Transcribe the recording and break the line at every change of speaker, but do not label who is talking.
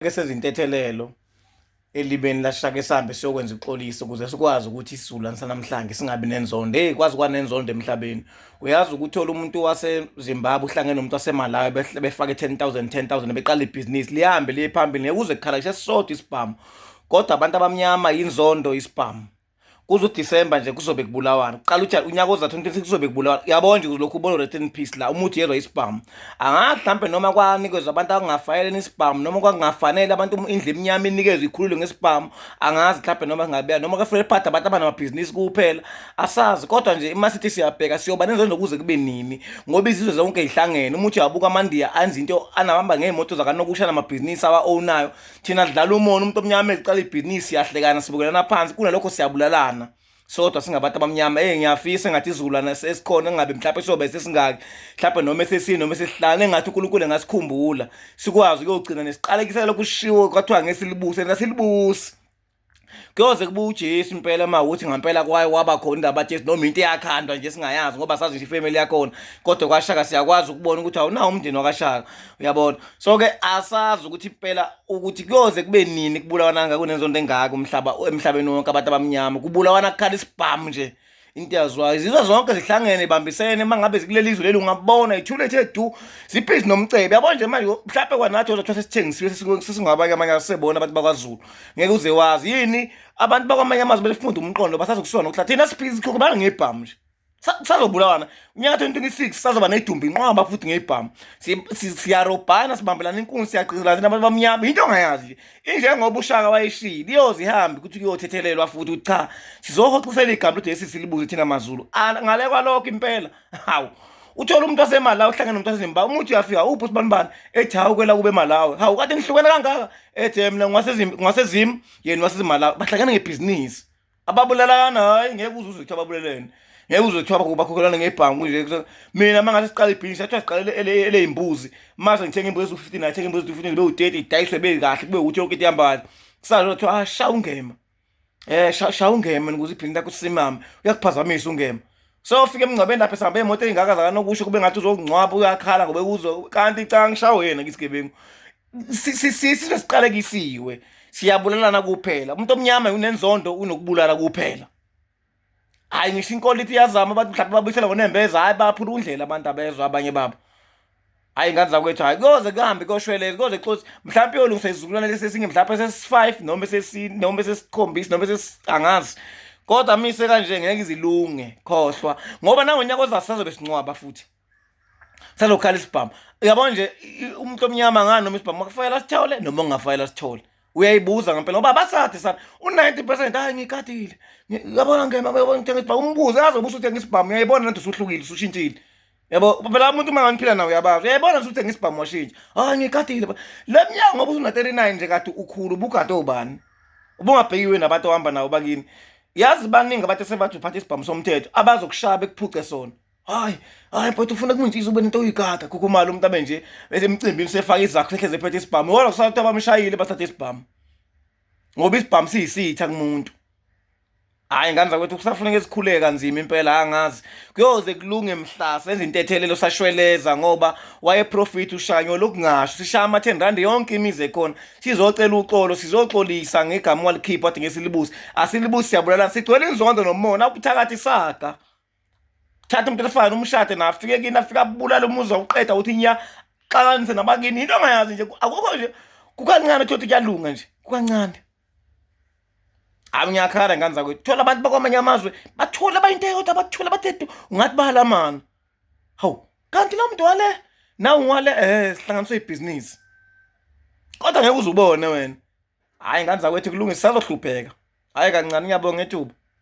isake sezintethelelo elibeni lashaka esambe siyokwenza ixoliso ukuze sikwazi ukuthi isizulwane sanamhlanje singabi nenzondo hey kwazi kwanenzondo emhlabeni uyazi ukuthola umuntu wasezimbabwe uhlangene nomuntu wasemalawi befake 10 000 10 000 beqala ibhizinisi lihambe liye phambili ngeke uze kukhala kusesisodwa isibhamu kodwa abantu abamnyama yinzondo isibhamu kuze uDisemba nje kuzobe kubulawana kuqala uthi unyaka ozathi uNtwensi kuzobe kubulawana uyabona nje kulokhu ubona rest in peace la umuthi yezwa isibhamu angathi mhlawumbe noma kwanikezwa abantu akungafanele isibhamu noma kwakungafanele abantu indlu emnyama inikezwe ikhululwe ngesibhamu angazi mhlawumbe noma singabeya noma kufanele phathe abantu abanamabhizinisi kuphela asazi kodwa nje uma sithi siyabheka siyoba nenzo nokuze kube nini ngoba izizwe zonke zihlangene umuthi wabuka amandiya anzi into anabamba ngey'moto zakanokusha namabhizinisi awa-ownayo thina sidlala umona umuntu omnyama eziqala ibhizinisi siyahlekana sibukelana phansi kunalokho siyabulalana sodwa singabantu abamnyama ey ngiyafisa engathi izulana esikhona engabe mhlawumbe siyobe sesingaki mhlawumbe noma esesini noma esesihlala engathi unkulunkulu engasikhumbula sikwazi ukuyogcina nesiqalekisela lokushiwo kwathiwa ngesilibuse nasilibusi kuyoze kuba uJesu impela uma ukuthi ngampela kwaye waba khona indaba Jesu noma into eyakhandwa nje singayazi ngoba sazi nje ifamily yakhona kodwa kwashaka siyakwazi ukubona ukuthi awunawo umndeni wakashaka uyabona so ke asazi ukuthi impela ukuthi kuyoze kube nini kubulawana ngakho nenzonto engaka umhlaba emhlabeni wonke abantu abamnyama kubulawana kukhala isibhamu nje into yazwayo izizwe zonke zihlangene ibambisene uma ngabe zikuleli izwe leli ungabona ithule ethe du zibhizi nomcebe yabo nje manje mhlawumbe kwanathi ozathwa sesithengisiwe sesingabanye amanye asebona abantu bakwazulu ngeke uze wazi yini abantu bakwamanye amazwe belifunda umqondo basazokusona ukuthi thina siphizi ikhokho banga ngebhamu nje sazobulawana unyaka 2026 sazoba nedumbi inqwaba futhi ngebhamu siyarobhana sibambelana inkunzi siyagqizelana thina abantu bamnyama yinto ongayazi nje injengoba ushaka wayishilo iyoze ihambe ukuthi kuyothethelelwa futhi ukuthi cha sizohoxisela igama lojesu silibuze thina mazulu ngale kwalokho impela hawu uthola umuntu wasemalawi uhlangene nomuntu wasezimbabwe umuthi uyafika uphi usibanibani ethi hawu kwela kube malawi hawu kade nihlukene kangaka ethi mina ngwasezimu yena wasezimalawi bahlangene ngebhizinisi ababulalana hayi ngeke uze uzwe kuthiwa babulelene ngeke uze kuthiwa bakho- bakhokhelana ngebhangu nje Kuzo- mina uma ngathi siqala ibhizinisi athiwa siqalele ele- eleyimbuzi mase ngithenga imbuzi eziwu-fifteen athenga imbuzi eziwu-fifteen bewu-thirty idayiswe bekahle kube ukuthi yonke into ihamba kahle kusazona kuthiwa ah sha ungema um sha sha ungema ukuze ibhizinisi lakho sisimame uyakuphazamisa ungema sofika emngcwabeni lapho esihamba iy'moto ey'ngaka zakanokusho kube ngathi uzokungcwaba uyakhala ngoba uzwe kanti canga ngishawo yena ngisigebengu sisizwe siqalekisiwe siyabulalana kuphela umuntu omnyama unenzondo unokubulala kuphela hayi ngisho inkolo ithi iyazama abantu mhlawumbe babuyisela ngonembeza hayi baphula undlela abantu abezwa abanye babo hayi ingane zakwethu hayi koze kuhambe koshweleze koze xosi mhlawumbe yolungisa izizukulwane lesi esinge mhlawumbe sesi-five noma sesine noma sesikhombisi noma angazi kodwa mise kanje ngeke izilunge khohlwa ngoba nangonyaka ozasazobe sincwaba futhi salokhala isibhamu uyabo nje umuntu omnyama ngani noma isibhamu makufayela sithole noma ungafayela sithole uyayibuza ngempela ngoba abasade sana u-90 percent hayi ngikadile yabona ngema yabona ngithenga isibhamu umbuze azobusa uthenga isibhamu uyayibona nanti usuhlukile usushintshile yabo phela umuntu uma nganiphila nawo uyabazi uyayibona ukuthi uthenga isibhamu washintsha hayi ngikadile le mnyango ngoba usuna-39 nje kade ukhulu ubugade obani ubungabhekiwe nabantu ohamba nawo bakini yazi baningi abantu esebathi uphatha isibhamu somthetho abazokushaya bekuphuce sona hayi hayi but ufuna kumuntshiza ube nento oyigada khukhumala umuntu abe nje emcimbini usefaka izakho sehleze ephethe isibhamu wona kusala ukuthi abamshayile bathathe isibhamu ngoba isibhamu siyisitha kumuntu hayi ngane zakwethu kusafuneka esikhuleke kanzima impela angazi kuyoze kulunge mhla senza intethelelo sashweleza ngoba wayeprofit ushanyo lokungasho sishaya ama-10 rand yonke imizi ekhona sizocela uxolo sizoxolisa ngegama walikhipha wade ngesilibusi asilibusi siyabulalana sigcwele inzondo nomona ubuthakathi saga thatha umuntu elifana umshade na afike kini afike abulala umuzi wawuqeda ukuthi nya xakanise nabakini into angayazi nje akukho nje kukancane thothi kuyalunga nje kukancane hayi ngiyakhala ngane zakwethu thola abantu bakwamanye amazwe bathole abayinto eyodwa bathole abathethu ungathi bahalamana hawu kanti lo mntu wale nawe ungwale um sihlanganiswe ibhizinisi kodwa ngeke uze ubone wena hhayi ngane zakwethu kulungisa sazohlupheka hhayi kancane ngiyabonga ethuba